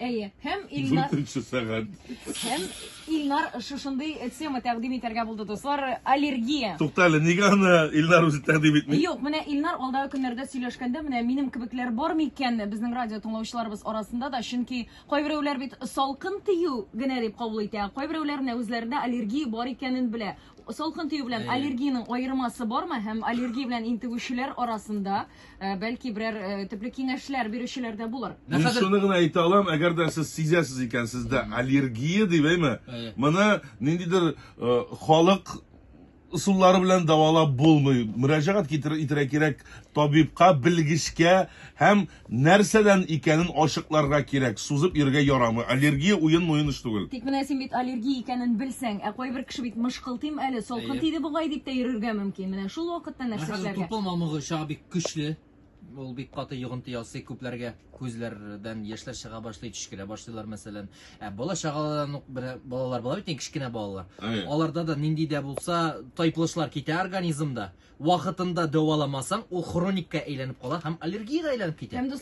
Әйе, һәм Илнар... Дүртенче сәгать. Һәм Илнар шушындый тема тәкъдим итәргә булды, дуслар, аллергия. Тукта әле, нигә аны Илнар үзе тәкъдим итми? Юк, менә Илнар алдагы көннәрдә сөйләшкәндә, менә минем кебекләр бар микән безнең радио тыңлаучыларыбыз арасында да, чөнки кайберәүләр бит салкын тию генә дип кабул итә, кайберәүләр менә үзләрендә аллергия бар икәнен белә. Салкын тию белән Әйе. аллергиянең аермасы бармы һәм аллергия белән интегүчеләр арасында э, бәлки берәр э, төпле киңәшләр бирүчеләр дә булыр. Менә Мин хәзер шуны гына әйтә алам, әгәр дә сез сизәсез икән, сездә аллергия дип әйме, Әйе. моны ниндидер э, халык ысуллары белән дәвалап булмый. Мөрәҗәгать китер- итәргә кирәк табибка, белгечкә һәм Нәрсәдән икәнен ачыкларга кирәк, сузып йөрергә ярамый. Аллергия уен-муен эш түгел. Тик менә син бит аллергия икәнен белсәң, ә кайбер кеше бит мышкылтыйм әле, салкын тиде бугай дип тә йөрергә мөмкин. Менә шул вакытта нәрсә эшләргә? Менә хәзер тупыл мамыгы чага бик көчле. Ул бик каты йогынты ясый, күпләргә күзләрдән яшьләр чыга башлый, төчкерә башлыйлар, мәсәлән. Ә бала-чагалардан ук менә балалар була бит, кечкенә балалар. Аларда да нинди дә булса тайпылышлар китә организмда. Вакытында дәваламасаң, ул хроникка әйләнеп кала һәм аллергиягә әйләнеп китә.